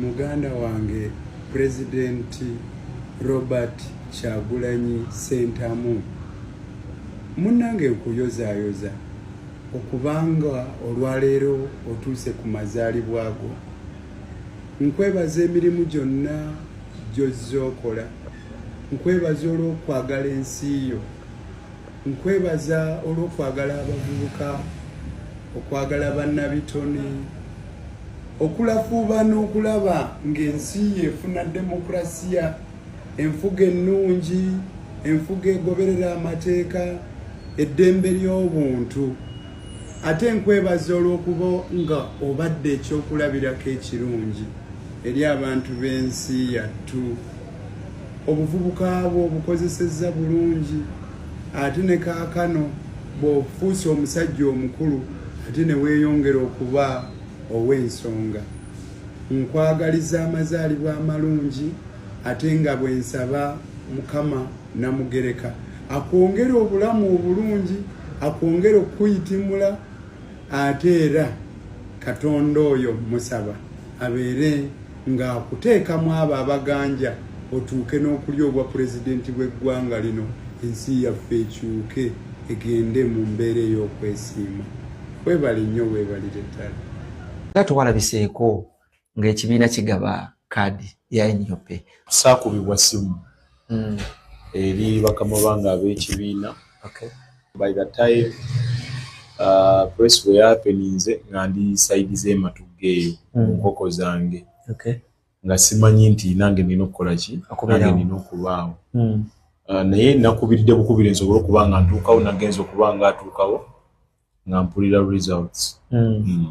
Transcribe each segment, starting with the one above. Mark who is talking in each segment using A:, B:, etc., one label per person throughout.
A: Muganda wange President Robert Kyagulanyi Sentamu munange nkuyozayoza okubanga olwaleero otuuse ku mazaalibwa go nkwebaza emirimu gyonna gyozza okola nkwebaza olw'okwagala ensi yo Nkwebaza olw'okwagala abavubuka, okwagala bannabitone, okulafuuba n'okulaba ng'ensi efuna demokulasiya, enfuga ennungi, enfuga egoberera amateeka, eddembe ly'obuntu. Ate nkwebaza olw'okuba nga obadde ekyokulabirako ekirungi eri abantu b'ensi yattu. obuvubuka bwo obukozesezza bulungi ate ne kaakano bw'ofuuse omusajja omukulu ate ne weeyongera okuba ow'ensonga nkwagaliza amazaalibwa amalungi ate nga bwe nsaba mukama namugereka akwongere obulamu obulungi akwongere okukuyitimula ate era katonda oyo musaba abeere nga akuteekamu abo abaganja otuuke n'okulya obwa pulezidenti bw'eggwanga lino ensi yaffe ekyuke egende mu mbeera ey'okwesiima webale nnyo webalire ddala nga
B: tewalabiseeko ng'ekibiina kigaba kaadi ya nup saakubibwa
C: simu mm. eri bakama bange ab'ekibiina okay. by the time uh, press bwe yapeninze nga ndi saidi z'ematugga eyo mu mm. nkoko zange okay. nga simanyi nti nange nina okukola ki nange nina okubaawo mm. uh, naye nakubiridde bukubire nsobole okuba nga ntuukawo nagenza okuba nga atuukawo nga mpulira results mm. mm.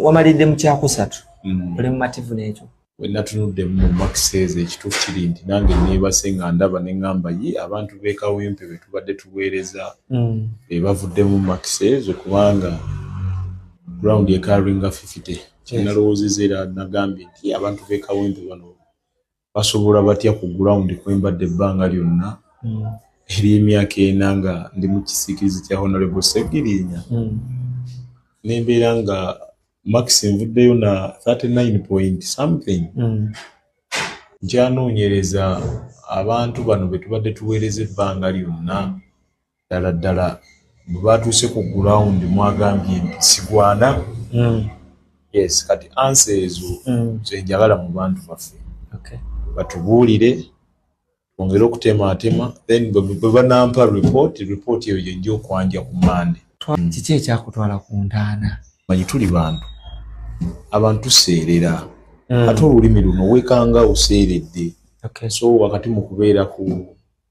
B: wamalidde mu kyakusatu mm. oli mumativu n'ekyo wenatunudde
C: mu makiseeza ekituufu kiri nti nange neebase nga ndaba ne ŋŋamba ye abantu beekawempe be tubadde tuweereza mm. be bavuddemu makiseezo kubanga ground ekaringa fifite kyenalowoozeza era nagambye nti abantu beekawempe bano basobola batya ku ground kwembadde ebbanga lyonna hmm. eryemyaka ena nga ndi mu kisiikirizi kya honorable segirinya hmm. nembeera nga max nvuddeyo na 39 point something hmm. nkyanoonyereza abantu bano betubadde tuweereza ebbanga lyonna ddala ddala bwe baatuuse ku gulawundi mwagambye nti sigwana hmm. yes kati ansa ezo hmm. zenjagala mu bantu baffe batubuulire twongere okutemaatema then bwe banampa report report eyo gyenja okwanja ku mande hmm. kiki ekyakutwala
B: ku ntaana manyi tuli bantu
C: abantu tuseerera ate olulimi luno wekanga oseeredde so wakati mu kubeera ku